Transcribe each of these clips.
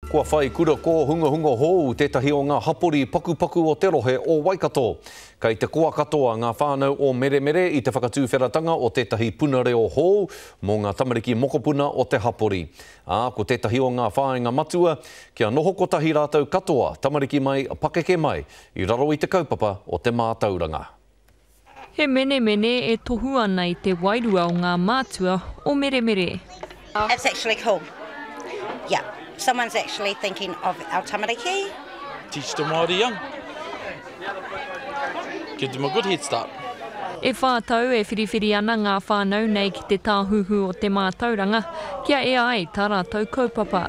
Kua whai kura kōhungahunga hōu tētahi o ngā hapori pakupaku o te rohe o Waikato. Kei te koa katoa ngā whānau o Meremere i te whakatuwheratanga o tētahi puna reo hōu mō ngā tamariki mokopuna o te hapori. Ā, ko tētahi o ngā whāinga matua, kia noho kotahi rātou katoa, tamariki mai, pakeke mai, i raro i te kaupapa o te mātauranga. He menemene e tohu ana i te wairua o ngā mātua o Meremere. It's actually cool. Yeah. Someone's actually thinking of our tamariki. Teach the Māori young. Give them a good head start. E whā tau e whiriwhiri ana ngā whānau nei ki te Tāhuhu o te Mātauranga kia ea ai tā rātou kaupapa.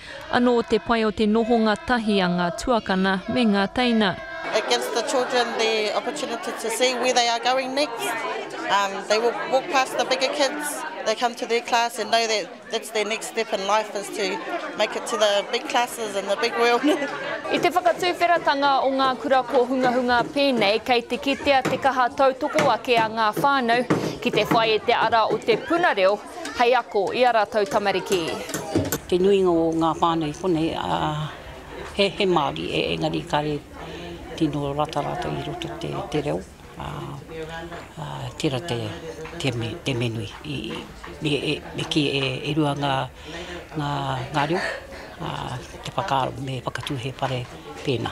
Anō te pai o te nohonga tahi a ngā tuakana me ngā teina. It gives the children the opportunity to see where they are going next. Um, they will walk past the bigger kids, they come to their class and know that that's their next step in life is to make it to the big classes and the big world. I te whakatuwheratanga o ngā kura kōhungahunga pēnei, kei te kitea te kaha tautoko ake a ngā whānau ki te whai i te ara o te puna reo Hei ako i a ratou tamariki. Te nuinga o nga whanau konei he he Maori engari kare tino rata ratou i roto i te reo a tera te menui me ki e rua nga reo a te whakaaro me whakatu he whare pena.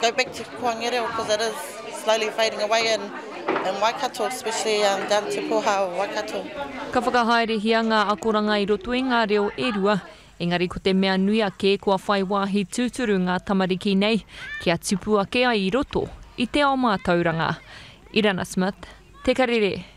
go back to Koangere because it is slowly fading away in in Waikato especially um, down to Koha or Waikato. Ka whakahaerehia ngā akoranga i roto i ngā reo e rua, engari ko te mea nui ake kua whai wāhi tūturu ngā tamariki nei kia tipu ake ai i roto i te ao mātauranga. Irana Smith, Te Karere.